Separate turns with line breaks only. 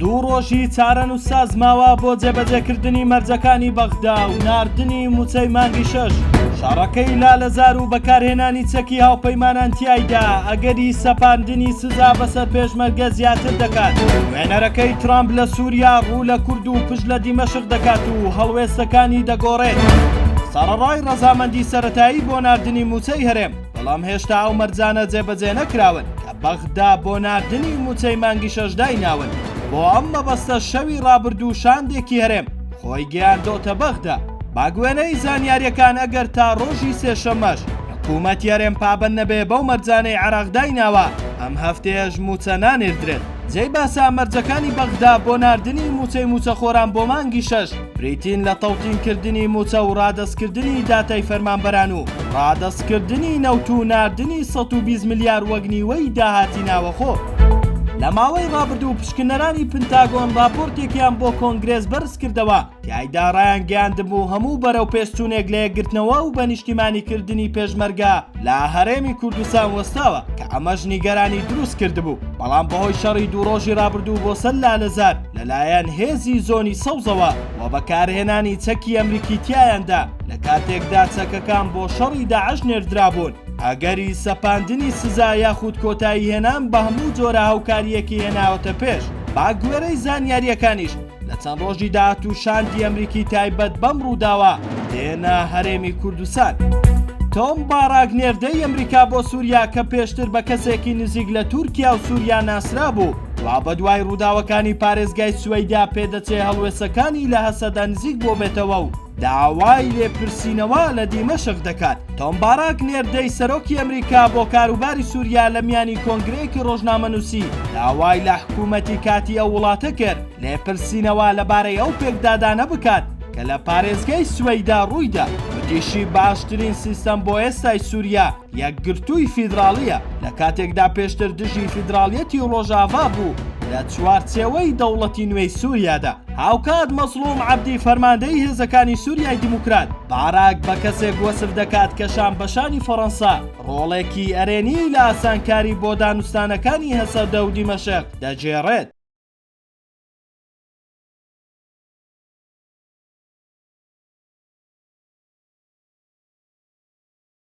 دوو ڕۆژی چارەنووسساز ماوە بۆ جێبەجێکردنی مەرجەکانی بەغدا و ناردنی مووچەی مانگی شەش شەڕەکەی لالەزار و بەکارهێنانی چەکی هاوپەیمانان تایدا ئەگەری سەپاندنی سزا بەسەر پێشمەرگە زیاتر دەکات وێنەرەکەی ترامپ لە سووریا ڕوو لە کورد و پشت لە دیمەشق دەکات و هەڵوێستەکانی دەگۆڕێت سەڕەڕای ڕەزامەندی سەرەتایی بۆ ناردنی مووچەی هەرێم بەڵام هێشتا ئەو مەرجانە جێبەجێ نەکراون کە بەغدا بۆ ناردنی مووچەی مانگی شەش دایناون، بۆ ئەم مەبەستە شەوی ڕابردوو شاندێکی هەرێم خۆی گەیاندۆتە بەغدا. بەگوێرەی زانیارییەکان ئەگەر تا ڕۆژی سێشەممەش حکوومەتی هەرێم پابەند نەبێ بەو مەرجانەی عێراق دایناوە، ئەم هەفتەیەش مووچە نانێردرێت. جێی باسە مەرجەکانی بەغدا بۆ ناردنی مووچەی مووچەخۆران بۆ مانگی شەش، بریتین لە تەوتین کردنی مووچە و ڕادەست کردنی داتای فەرمانبەران و ڕادەست کردنی نەوت و ناردنی سەد و بیست ملیار وەک نیوەی داهاتی ناوەخۆ. لە ماوەی ڕابردوو پشکنەرانی پنتاگۆن ڕاپۆرتێکیان بۆ کۆنگرێس بەرزکردەوە تایدا ڕایانگەیاندبوو هەموو بەرەو پێشچوونێک لە یەکگرتنەوە و بە نیشتیمانیکردنی پێشمەرگە لە هەرێمی کوردستان وەستاوە کە ئەمەش نیگەرانی دروست کردبوو بەڵام بەهۆی شەڕی دوو ڕۆژی ڕابردوو بۆ سەر لالەزار لەلایەن هێزی زۆنی سەوزەوە و بەکارهێنانی چەکی ئەمریکی تیایاندا لە کاتێکدا چەکەکان بۆ شەڕی داعش نێردرابوون ئەگەری سەپاندنی سزا یاخود کۆتایی هێنان بە هەموو جۆرە هاوکاریەکی هێناوەتە پێش با گوێرەی زانیاریەکانیش لە چەند ڕۆژی داهاتوو شاندی ئەمریکی تایبەت بەم ڕووداوە دێنە هەرێمی کوردستان. تۆم باراک نێردەی ئەمریکا بۆ سووریا کە پێشتر بە کەسێکی نزیک لە تورکیا و سووریا ناسرابوو، وا بەدوای ڕووداوەکانی پارێزگای سوەیدا پێدەچێ هەڵوێستەکانی لە هەسەدە نزیک بۆبێتەوە و داوای لێپرسینەوە لە دیمەشق دەکات. تۆم باراک نێردەی سەرۆکی ئەمریکا بۆ کاروباری سوریا لە میانی کۆنگرەیەکی ڕۆژنامەنووسی داوای لە حکوومەتی کاتی ئەو وڵاتە کرد لێپرسینەوە لەبارەی ئەو پێکدادانە بکات کە لە پارێزگای سوەیدا ڕوویدا وتیشی باشترین سیستەم بۆ ئێستای سوریا یەکگرتووی فیدراڵییە، لە کاتێکدا پێشتر دژی فیدراڵیەتی ڕۆژاڤا بوو لە چوارچێوەی دەوڵەتی نوێی سووریادا. هاوکات مەزڵووم عەبدی فەرماندەی هێزەکانی سووریای دیموکرات، باراک بە کەسێک وەسف دەکات کە شانبەشانی فەڕەنسا ڕۆڵێکی ئەرێنی لە ئاسانکاری بۆ دانوستانەکانی هەسەدە و دیمەشق دەگێڕێت.